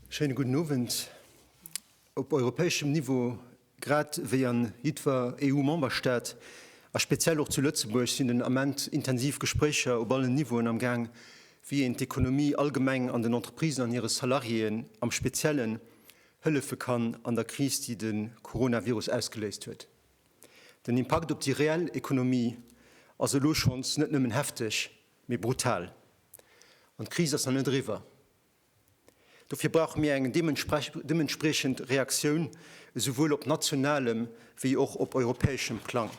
Schéine gudden Owend. Op europäeschem Niveau, grad wéi an jiddwer EU-Memberstaat, a speziell och zu Lëtzebuerg, sinn den Ament intensiv Gespréicher op allen Niveauen am Gaang, wéi een d'Ekonomie allgemeng an den Entreprisen an hire Salariéen am Speziellen hëllefe kann an der Kris, déi de Coronavirus ausgeléist huet. Den Impakt op déi reell Ekonomie ass elo schonns net nëmmen hefteg, Mee brutal. An d'Kris ass nach net eriwwer. Dofir brauche mir eng deementspriechend Reaktioun, esouwuel op nationalem wéi och op europäeschem Plang.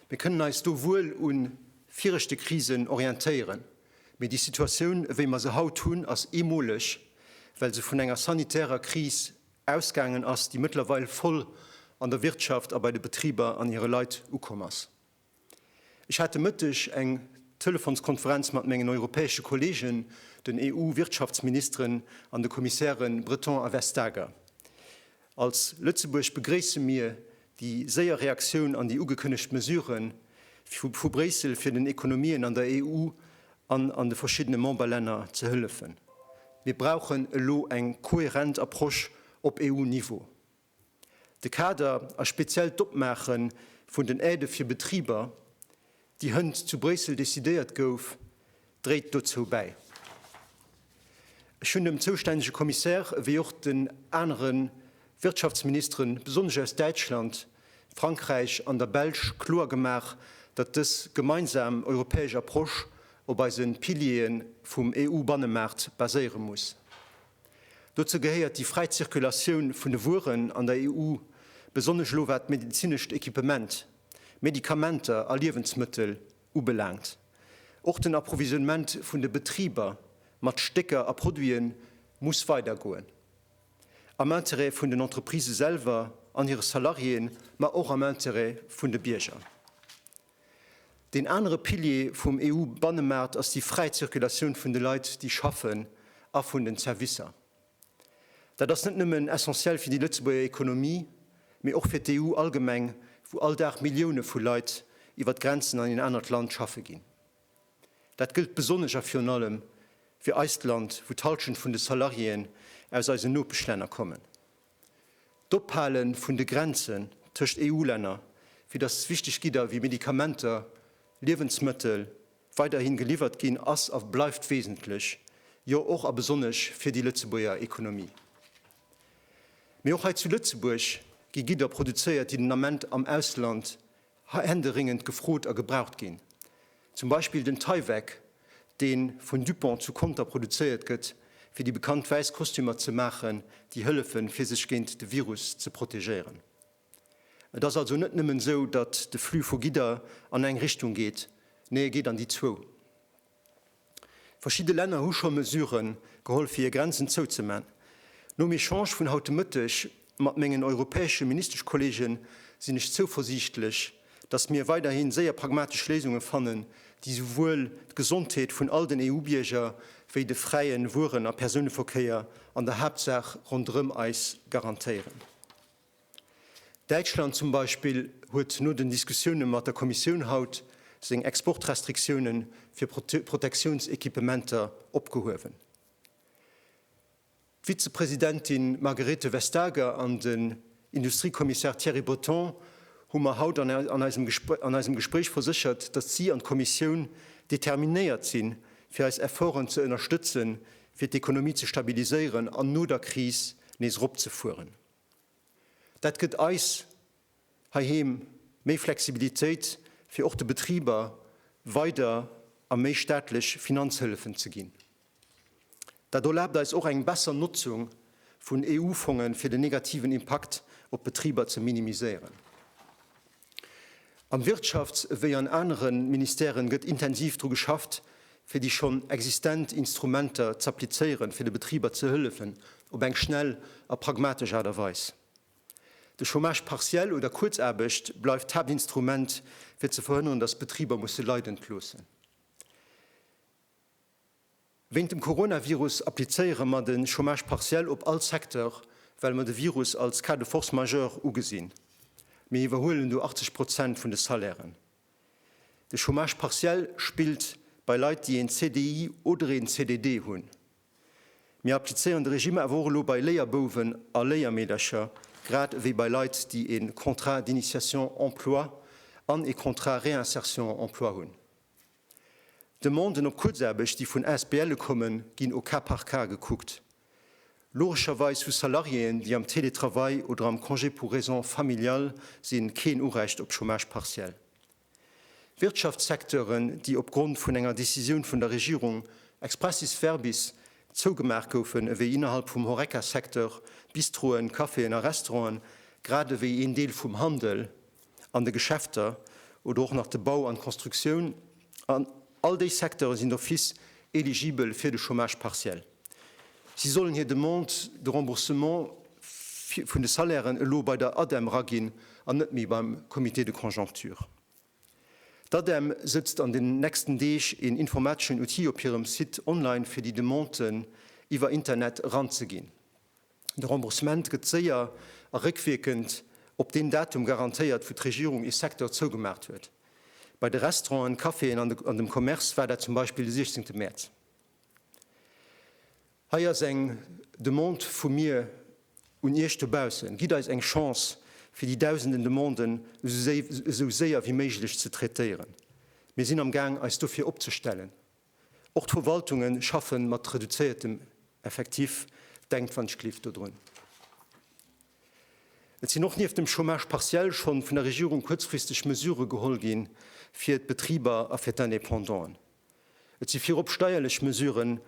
Mir kënnen eis do wuel u viregte Krisen orientéieren, mee déi Situatioun, ewéi mer se haut hunn, ass eemoleg, well se vun enger sanitärer Kris ausgaangen ass, déi mëttlerweil voll an der Wirtschaft a bei de Betriber an hire Leit ukomm ass. Ech hat de Mëtteg eng Telefonskonferenz mat mengen europäesche Kollegen, den EU-Wirtschaftsministeren an de Kommissäre Breton a Vestager. Als Lëtzebuerg begréisse mir déi séier Reaktioun an déi ugekënnegt Mesurë vu Bréissel, fir den Ekonomien an der EU an an de verschiddene Memberlänner ze hëllefen. Mir brauchen elo eng kohärent Approche op EU-Niveau. De Kader a speziell d'Opmaache vun den Aidë fir Betriber, déi hënt zu Bréissel decidéiert gouf, dréit dozou bäi. Ech hunn dem zoustännege Kommissär ewéi och den anere Wirtschaftsministere besonnesch aus Däitschland, Frankräich an der Belsch kloer gemaach, datt dës gemeinsam europäesch Approche op eise Piliere vum EU-Bannemaart baséiere muss. Dozou gehéiert déi fräi Zirkulatioun vun de Wueren an der EU, besonnesch elo wat medezinescht Equipement, Medikamenter a Liewensmëttel ubelaangt. Och den Approvisionnement vun de Betriber mat Stécker a Produite muss weidergoen, am Interêt vun den Entreprisë selwer an hire Salariéen, ma och am Interêt vun de Bierger. Deen anere Pilier vum EU-Bannemaart ass déi fräi Zirkulatioun vun de Leit, déi schaffen, a vun den Zerwisser. Dat ass net nëmmen essentiell fir déi Lëtzebuerger Ekonomie, mee och fir d'EU allgemeng, wou all Dag Millioune vu Leit iwwer d'Grenzen an een anert Land schaffe ginn. Dat gëllt besonnesch a virun allem fir eist Land, wou d'Hallschent vun de Salariéeën aus eisen Nopeschlänner kommen. D'Ophale vun de Grenzen tëscht EU-Länner, fir datt wichteg Gidder wéi Medikamenter, Liewensmëttel weiderhi geliwwert ginn, ass a bleift wesentlech, jo och a besonnesch fir déi Lëtzebuerger Ekonomie. Mee och hei zu Lëtzebuerg gi Gidder produzéiert, déi den Ament am Ausland händeringend gefrot a gebraucht ginn, zum Beispill den Tyvek, dee vun Dupont zu Conter produzéiert gëtt, fir déi bekannt wäiss Kostümer ze maachen, déi hëllefen, fir sech géint de Virus ze protegéieren. Et ass also net nëmmen esou, datt de Flux vu Gidder an eng Richtung geet, nee e geet an déi zwou. Verschidde Länner hu scho Mesure geholl fir hir Grenzen zouzeman. Nom Echange vun haut de Mëtteg mat mengen europäesche Ministeschkollegen sinn ech zouversiichtlech, datt mir weiderhi séier pragmatesch Léisunge fannen, déi souwuel d'Gesondheet vun all den EU-Bierger wéi de fräie Wueren a Persouneverkéier an der Haaptsaach ronderëm eis garantéieren. Däitschland zum Beispill huet no den Diskussioune mat der Kommissioun haut seng Exportrestriktioune fir Protektiounsequipementer opgehuewen. D'Vizepresidentin Margrethe Vestager an den Industriekommissar Thierry Breton hu mer haut an eisem Gespréich verséchert, datt si an d'Kommissioun determinéiert sinn, fir eis Efforten ze ënnerstëtzen, fir d'Ekonomie ze stabiliséieren an no der Kris nees eropzefueren. Dat gëtt eis heiheem méi Flexibilitéit, fir och de Betriber weider a méi staatlech Finanzhëllefen ze ginn. Dat erlaabt eis och eng besser Notzung vun EU-Fongen, fir den negativen Impakt op d'Betriber ze minimiséieren. Am Wirtschafts ewéi an anere Ministèren gëtt intensiv dru geschafft, fir déi schonn existent Instrumenter z'applizéieren, fir de Betriber ze hëllefen op eng schnell a pragmatesch Aart a Weis. De Chômage partiel oder Kuerzaarbecht bleift d'Haaptinstrument, fir ze verhënneren, datt d'Betriber musse leiden loossen. Wéint dem Coronavirus applizéiere mer den Chômage partiel op all Secteur, well mer de Virus als cas de force majeure ugesinn. Mir iwwerhuelen do 80 Prozent vun de Salairen. De Chômage partiel spillt bei Leit, déi een CDI oder een CDD hunn. Mir applizéieren de Regime awer och elo bei Léierbouwen a Léiermeedercher, grad ewéi bei Leit, déi ee Contrat d'initiation emploi an ee Contrat réinsertion emploi hunn. D'Demanden op Kuerzaarbecht, déi vun ASBLe kommen, ginn au cas par cas gekuckt. Logescherweis hu Salariéen, déi am Télétravail oder am Congé pour raisons familiales sinn, keen Urecht op Chômage partiel. Wirtschaftssecteuren, déi opgrond vun enger Decisioun vun der Regierung expressis verbis zougemaach goufen, ewéi innerhalb vum Horeca-Secteur, Bistroen, Caféen a Restauranten, grad ewéi een Deel vum Handel, an de Geschäfter oder och nach de Bau an d'Constructioun, an all déi Secteure sinn d'office eligibel fir de Chômage partiel. Si sollen hir Demande de remboursement vun de Salairen elo bei der ADEM raginn an net méi beim Comité de conjoncture. D'ADEM sëtzt an den nächsten Deeg een informateschen Outil op hirem Site online fir déi Demanden iwwer Internet eranzeginn. De Remboursement gëtt séier a réckwierkend op deen Datum garantéiert, wou d'Regierung ee Secteur zougemaacht huet. Bei de Restauranten, Caféen an dem Commerce war dat zum Beispill de 16 Mäerz. Hei ass eng Demande vu mir un Iech dobaussen, Gitt eis eng Chance, fir déi dausenden Demanden esou séier wéi méiglech ze traitéieren. Mir sinn am Gaang, eis dofir opzestellen. Och d'Verwaltunge schaffen mat reduzéiertem Effektif, denkt wann ech gleef dodrun. Et sinn och nieft dem Chômage partiel schonn vun der Regierung kuerzfristeg Mesurë geholl gi fir d'Betriber a fir d'Indépendanten. Et si virop steierlech Mesuren,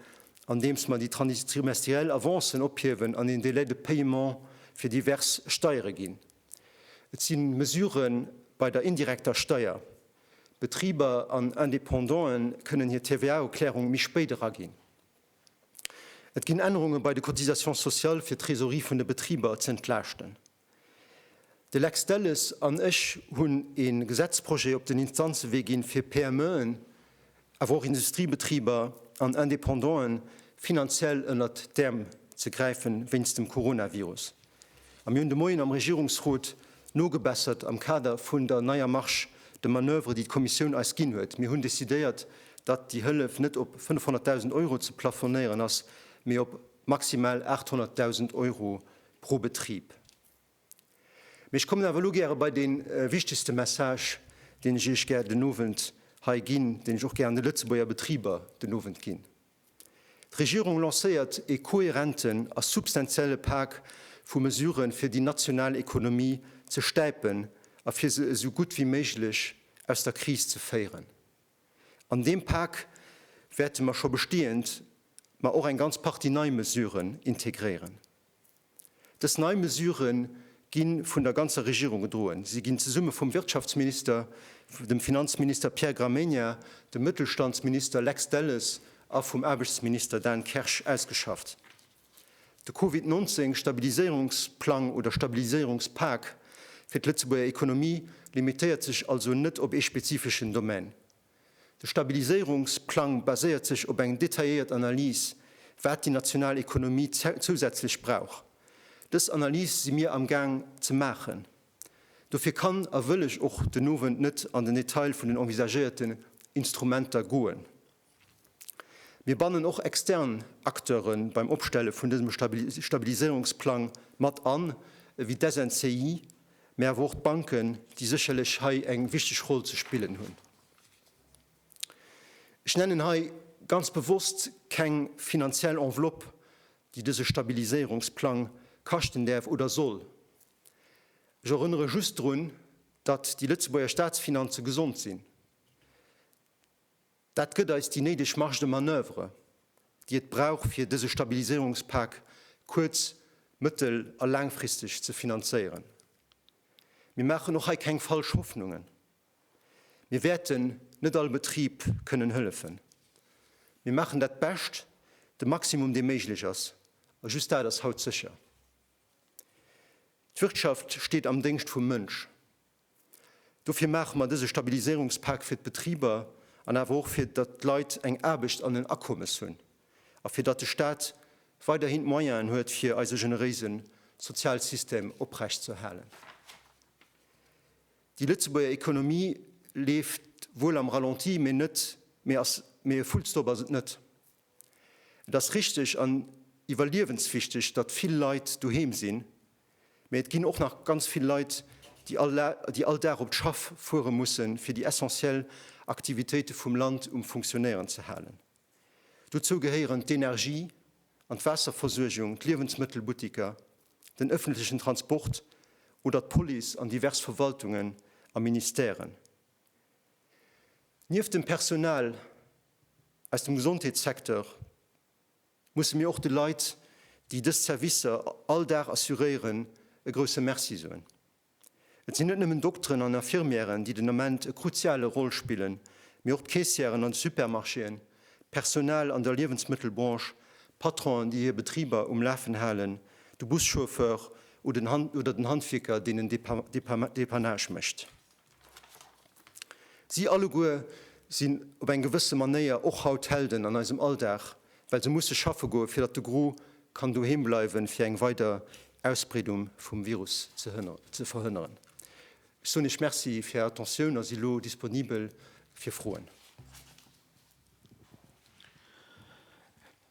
andeems mer déi trimestriell Avancen ophiewen an een Délai de paiement fir divers Steiere ginn. Et si Mesurë bei der indirekter Steier. Betriber an Indépendantë kënnen hir TVA-Erklärung méi spéit eraginn. Et ginn Ännerunge bei de Cotisations sociales, fir d'Trésorerie vun de Betriber ze entlaaschten. De Lex Delles an ech hunn ee Gesetzprojet op den Instanzewee ginn, fir PMEen, awer och Industriebetriber an Indépendant'en finanziell ënnert d'Äerm ze gräifen, wéinst dem Coronavirus. A mir hunn de Moien am Regierungsrot nogebessert am Kader vun der neier Marge de manoeuvre, déi d'Kommissioun eis ginn huet. Mir hunn decidéiert, datt déi Hëllef net op 500.000 Euro ze plafonéieren ass, mee op maximal 800.000 Euro pro Betrib. Mee ech kommen awer elo gäre bei dee wichtegste Message, deen ech Iech gär den Owend hei ginn, deen ech och gär an de Lëtzebuerger Betriber den Owend ginn. D'Regierung lancéiert ee kohärenten a substantielle Pak vu Mesuren, fir déi national Ekonomie ze stäipen a fir se esou gutt wéi méiglech aus der Kris ze féieren. An deem Pak wäerte mer scho bestehend, ma och eng ganz Partie nei Mesuren integréieren. Dës nei Mesurë gi vun der ganzer Regierung gedroen. Si ginn zesumme vum Wirtschaftsminister, dem Finanzminister Pierre Gramegna, dem Mëttelstandsminister Lex Delles a vum Aarbechtsminister Dan Kersch ausgeschafft. De Covid 19 Stabiliséierungsplang oder Stabiliséierungspak fir d'Lëtzebuerger Ekonomie limitéiert sech also net op ee spezifeschen Domän. De Stabiliséierungsplang baséiert sech op eng detailléiert Analys, wat déi national Ekonomie zousätzlech brauch. Dës Analys si mir am Gaang ze maachen. Dofir kann a wëll ech och den Owend net an den Detail vun den envisagéierten Instrumenter goen. Mir bannen och extern Acteure beim Opstelle vun dësem Stabiliséierungsplang mat an, ewéi d'SNCI, mä awer och d'Banken, déi sécherlech hei eng wichteg Roll ze spillen hunn. Ech nennen hei ganz bewosst keng finanziell Enveloppe, déi dëse Stabiliséierungsplang kaschten däerf oder soll. Ech erënnere just drun, datt déi Lëtzebuerger Staatsfinanze gesond sinn. Dat gëtt eis déi néideg Marge de manoeuvre, déi et brauch, fir dëse Stabiliséierungspak kuerz-, mëttel a laangfristeg ze finanzéieren. Mir maachen och hei keng falsch Hoffnungen. Mir wäerten net all Betrib kënnen hëllefen. Mir maachen dat Bescht, de Maximum, dee méiglech ass, a just dat ass haut sécher. D'Wirtschaft steet am Déngscht vum Mënsch. Dofir maache mer dëse Stabiliséierungspak fir d'Betriber an awer och fir datt d'Leit eng Aarbecht an en Akommes hunn a fir datt de Staat weiderhin d'Moyenen huet fir eise generéise Sozialsystem oprecht ze erhalen. Déi Lëtzebuerger Ekonomie leeft wuel am Ralenti, mee net, mee ass, mee e Fullstop ass et net. Et ass richteg an iwwerliewenswichteg, datt vill Leit doheem sinn, mä et ginn och nach ganz vill Leit, déi all Dag op d'Schaff fuere mussen, fir déi essentiell Aktivitéite vum Land um Funktionéieren ze halen. Dozou gehéieren d'Energie an d'Waasserversuergung, d'Liewensmëttelbuttiker, den ëffentlechen Transport oder d'Police an divers Verwaltungen a Ministèren. Nieft dem Personal aus dem Gesondheetssecteur musse mir och de Leit, déi dës Servicer all Dag assuréieren, e grousse Merci soen. Et sinn net nëmmen Dokteren an Infirmièren, déi den Ament e kruziale Roll spillen, mee och d'Keessièren an de Supermarchéen, d'Personal an der Liewensmëttelbranche, Patronen, déi hir Betriber um Lafen halen, de Buschauffeur oder den Handwierker, deen den Depannage mécht. Si alleguer sinn op eng gewësse Manéier och haut Helden an eisem Alldag, well se musse schaffe goen, fir datt de Gros kann doheem bleiwen, fir eng weider Ausbreedung vum Virus ze verhënneren. Ech soen Iech Merci fir Är Attentioun a si lo disponibel fir Froen.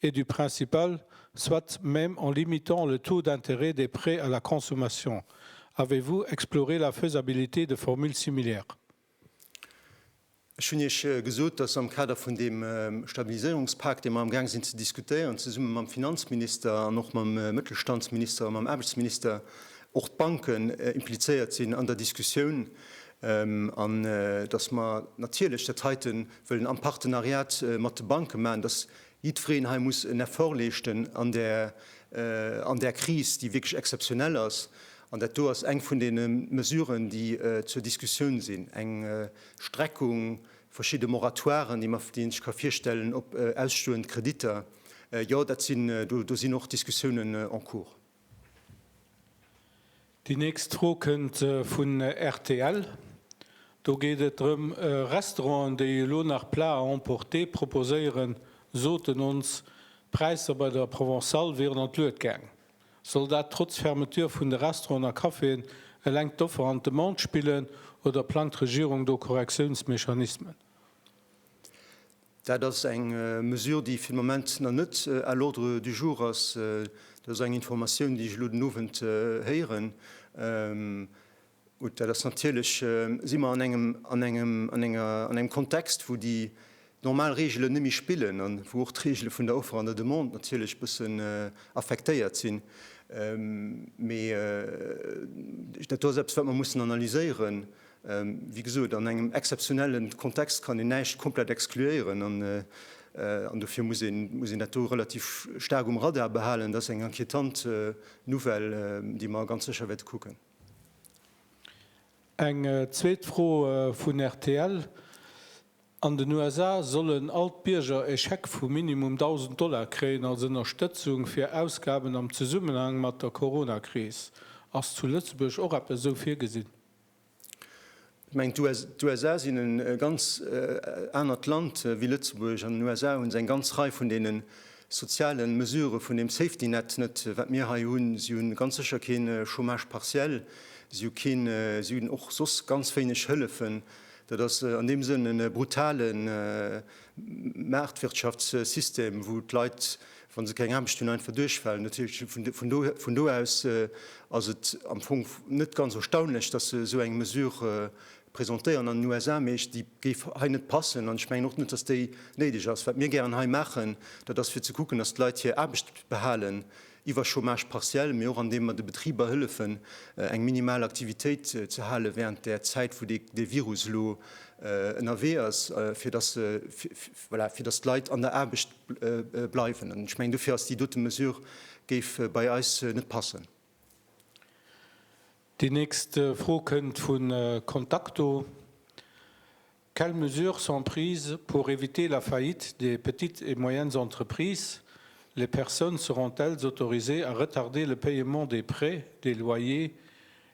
et du principal, soit même en limitant le taux d'intérêt des prêts à la consommation, avez-vous exploré la faisabilité de formules similaires? Ech hunn Iech gesot, dass am Kader vun deem Stabiliséierungspak, dee mer amgaang sinn ze diskutéieren, zesumme mam Finanzminister an och mam Mëttelstandsminister a mam Aarbechtsminister, och d'Banken implizéiert sinn an der Diskussioun an dass mer natierlech dat heite wëllen am Partenariat mat de Banke maachen, dass Jiddwereen hei muss en Effort leeschten an där, an där Kris, déi wierklech exzeptionell ass. An dat do ass eng vun deene Mesuren, déi zur Diskussioun sinn, eng Streckung, verschidde Moratoiren, déi mer, déi een sech ka virstellen op ausstoend Kreditter. Jo, dat sinn, do sinn och Diskussiounen en cours. Déi nächst Fro kënnt vun rtl. Do geet et drëm, Restauranten, déi elo nach Plats à emporter proposéieren, soten ons, d'Präisser bei der Provençale wieren an d'Lued gaang. Soll dat trotz Fermeture vun de Restauranten a Caféen eleng d'Offer an d'Demande spillen oder plangt d'Regierung do Korrektiounsmechanismen? Dat ass eng Mesure, déi fir de Moment nach net à l'ordre du jour ass. Dat ass eng Informatioun, déi ech elo den Owend héieren. Gut, dat ass natierlech, si mer an engem, an engem, an enger, an engem Kontext, wou déi normal Reegelen net méi spillen a wou och d'Reegele vun der Offer an der Demande natierlech e bëssen affektéiert sinn. Mee dat do ass eppes, wat mer mussen analyséieren. Wéi gesot, an engem exzeptionelle Kontext kann een näischt komplett excluéieren an dofir muss een dat do relativ staark um Radar behalen. Dat ass eng inquietant Nouvelle, déi mer ganz sécher wäerte kucken. Eng zweet Fro vun rtl, An den USA sollen all d'Bierger e Scheck vu minimum 1.000 Dollar kréien als Ënnerstëtzung fir Ausgaben am Zesummenhang mat der Corona-Kris. Ass zu Lëtzebuerg och eppes esou virgesinn? Et mengt, d'USA sinn e ganz anert Land wéi Lëtzebuerg. An den USA hu se eng ganz Rei vun deene soziale Mesurë vun deem Safety Net net, wat mir hei hunn. Si hu ganz sécher kee Chômage partiel, si hu keen, si hunn och soss ganz wéineg Hëllefen. Dat ass an deem Sënn e brutale. Maartwirtschaftssystem, wou d'Leit, wa se keng Aarbecht hunn, einfach duerchfalen. Natierlech, vun do aus ass et am Fong net ganz erstaunlech, datt se esou eng Mesure presentéieren an den USA. Mee ech, déi géif hei net passen an ech mengen och net, datt déi néideg ass. Wat mir gären hei maachen, dat ass fir ze kucken, datt d'Leit hir Aarbecht behalen, iwwer Chômage partiel, mee och an deem mer de Betriber hëllefen, eng minimal Aktivitéit ze hale während där Zäit, wou dee Virus elo ënnerwee ass, fir datt se, voilà, fir datt d'Leit an der Aarbecht bleiwen. An ech mengen, dofir ass déi dote Mesure, géif bei eis net passen. Déi nächst Fro kënnt vu Contacto. Quelles mesures sont prises pour éviter la faillite des petites et moyennes entreprises? Les personnes seront-elles autorisées à retarder le paiement des prêts, des loyers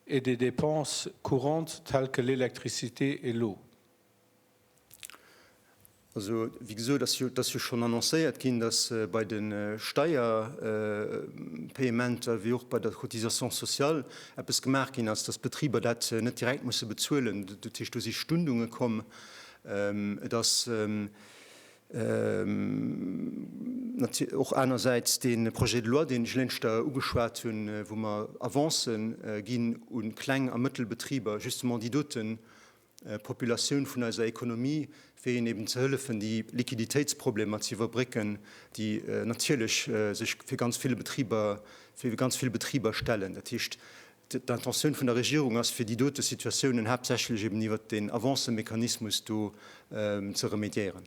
et des dépenses courantes telles que l'électricité et l'eau? Also, wéi gesot, et ass jo schonn annoncéiert ginn, dass bei de Steierpayementer wéi och bei der Cotisation sociale eppes gemaach ginn ass, datt d'Betriber dat net direkt musse bezuelen. Dat heescht, do si Stundunge komm. Et ass och anersäits dee Projet de loi, deen ech lénster ugeschwat hunn, wou mer Avancë ginn u kleng a mëttel Betriber, justement déi doten, Populatioun vun eiser Ekonomie, fir hinnen eben ze hëllefen, déi Liquiditéitsproblemer ze iwwerbrécken, déi natierlech sech fir ganz vill Betriber, fir ganz vill Betriber stellen. Dat heescht, d'Intentioun vun der Regierung ass, fir déi dote Situatiounen haaptsächlech eben iwwert deen Avancemechanismus do ze remédiéieren.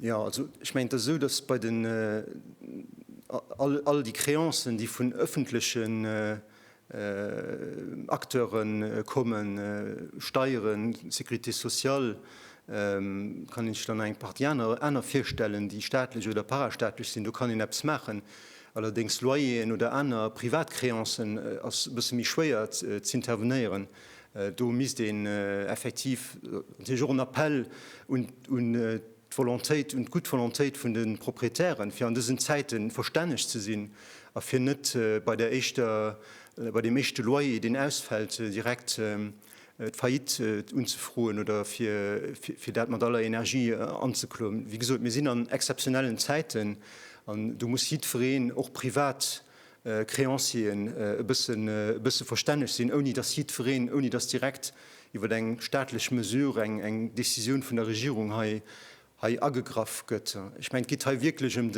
Jo, also ech mengen, et ass esou, datt bei den, all déi Créancen, déi vun öffentlechen Acteure kommen, Steieren, Sécurité sociale, kann een sech dann nach eng Partie aner virstellen, déi staatlech oder parastaatlech sinn, do kann een eppes maachen. Allerdéngs Loyeren oder aner privat Créancen ass e bësse méi schwéier z'intervenéieren. Do misst een effektiv natierlech och en Appell un d'Volontéit, un d'gutt Volontéit vun de Proprietären, fir an dësen Zäite verstänneg ze sinn a fir net bei der éischter, bei deem éischte Loyer, deen ausfält, direkt d'Faillite unzefroen oder fir dat mat aller Energie anzekloen. Wéi gesot, mir sinn an exzeptionellen Zäiten an do muss jiddwereen och privat Créancieren e bësse verstänneg sinn, ouni datt jiddwereen, ouni datt direkt iwwer eng staatlech Mesure, eng Décisioun vun der Regierung hei agegraff gëtt. Ech mengen, et geet hei wierklech ëm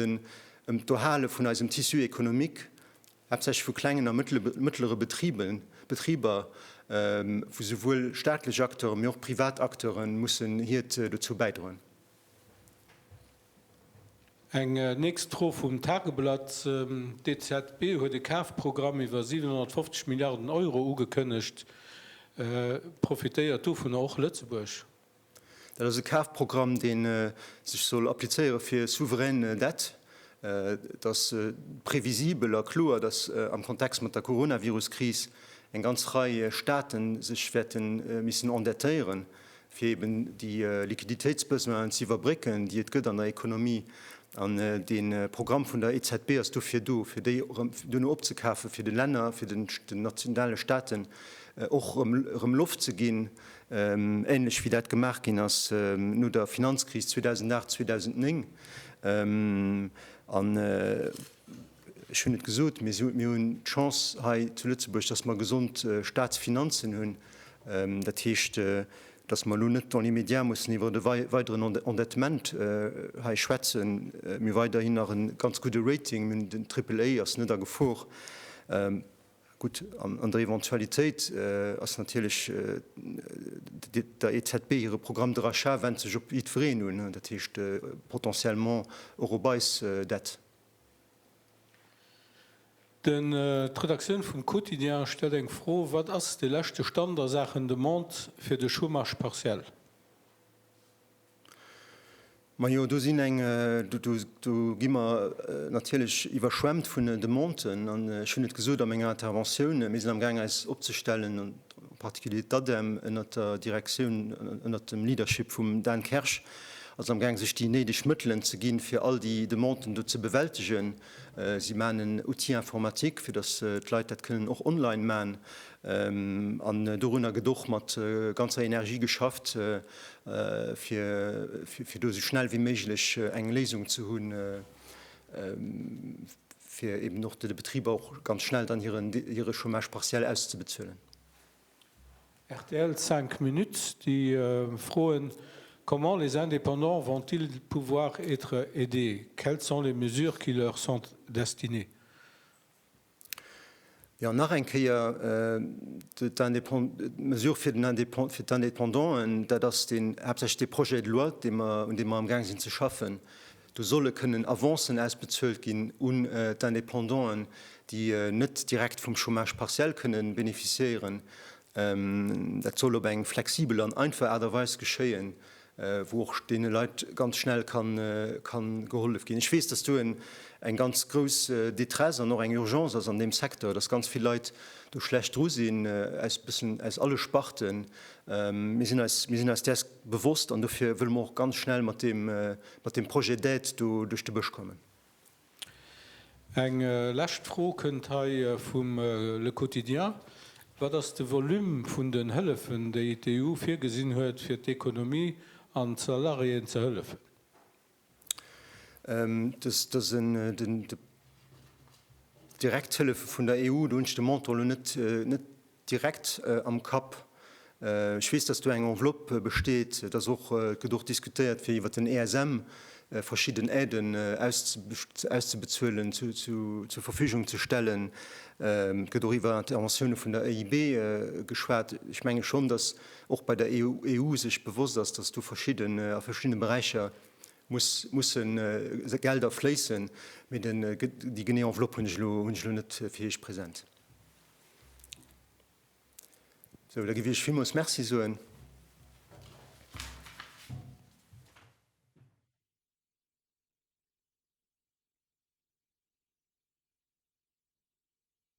d'Erhale vun eisem Tissu économique, haaptsächlech vu klengen a mëttlere Betriber, wou esouwuel staatlech Acteuren, mee och privat Acteuren mussen hiert dozou bäidroen. Eng nächst Fro vum Tageblatt, D'EZB huet e Kafprogramm iwwer 750 Milliarden Euro ugekënnegt. Profitéiert dovunner och Lëtzebuerg? Dat ass e Kafprogramm, dee sech soll applizéiere fir souverän Dett. Et ass previsibel a kloer, datt am Kontext mat der Coronavirus-Kris eng ganz Rei Staate sech wäerte missen endettéieren. fir eben déi Liquiditéitsbesoinen ze iwwerbrécken, déi et gëtt an der Ekonomie. An de Programm vun der EZB ass dofir do, fir déi erëm duerno opzekafen, fir de Länner, fir den nationale Staaten och erëm Loft ze ginn, ähnlech wéi dat gemaach ginn ass no der Finanzkris 2008, 2009. Ech hunn et gesot, mir hunn d'Chance hei zu Lëtzebuerg, datt mer gesond Statsfinanzen hunn. Dat heescht, datt mer elo net dans l'immédiat mussen iwwer e weideren Endettement hei schwätzen. Mir hu weiderhin nach e ganz gudde Rating, den Triple A ass net a Gefor. Gutt, an der Eventualitéit ass natierlech der EZB hire Programme de rachat wennt sech op jiddwereen un, dat heescht potentiellement och op eis Dett. Den D'Redaktioun vum Quotidien stellt eng Fro, Wat ass de leschte Stand a Saachen Demande fir de Chômage partiel? Majo, do sinn eng, do gi mer natierlech iwwerschwemmt vun Demanden. An ech hunn et gesot a menger Interventioun, Mir sinn amgaang eis opzestellen. en particulier d'ADEM ënnert der Direktioun, ënnert dem Leadership vum Dan Kersch, ass amgaang sech déi néideg Mëttelen ze ginn, fir all déi Demanden do ze bewältegen. Si maachen en Outil informatique, fir datt d'Leit dat kënnen och online maachen. An dorunner gëtt och mat ganzer Energie geschafft, fir do esou schnell wéi méiglech eng Léisung ze hunn. fir eben och de Betriber och ganz schnell dann hire Chômage partiel auszebezuelen. Rtl, 5 minutes, déi froen, Comment les indépendants vont-ils pouvoir être aidés? Quelles sont les mesures qui leur sont destinées? Jo, nach eng Kéier, d'Mesure fir d'Indépendanten, dat ass haaptsächlech dee Projet de loi, un deem mer amgaang sinn ze schaffen. Do solle kënnen Avancen ausbezuelt ginn un d'Indépendanten, déi net direkt vum Chômage partiel kënnen beneficiéieren. Dat soll op eng flexibel an einfach Aart a Weis geschéien. wou och deene Leit ganz schnell ka gehollef ginn. Ech weess, dass do eng ganz grouss Détresse an och eng Urgence ass an deem Secteur, dass ganz vill Leit do schlecht dru sinn, aus bëssen aus alle Sparten. Mir sinn eis, mir sinn eis däers bewosst an dofir wëlle mer och ganz schnell mat deem, mat deem Projet d'aide do duerch de Bësch kommen. Eng lescht Fro kënnt hei vum Le Quotidien, Wat ass de Volume vun den Hëllefen, déi d'EU virgesinn huet, fir d'Ekonomie an d'Salariéen ze hëllefen? Dass een déi direkt Hëllefe vun der EU, do hunn ech de Montant elo net, direkt am Kapp. Ech weess, dass do eng Enveloppe besteet, et ass och, et gëtt och diskutéiert, fir iwwert den ESM verschidden Aiden auszubezuelen, zur Verfügung ze stellen. Et gëtt och iwwer Interventioune vun der EIB geschwat. Ech menge schonn, dass och bei der EU sech bewosst ass, dass do verschidden, a verschiddene Beräicher musse Gelder fléissen, mee déi genee Enveloppe hunn ech elo net fir Iech present. Sou, da giff Iech villmools Merci soen.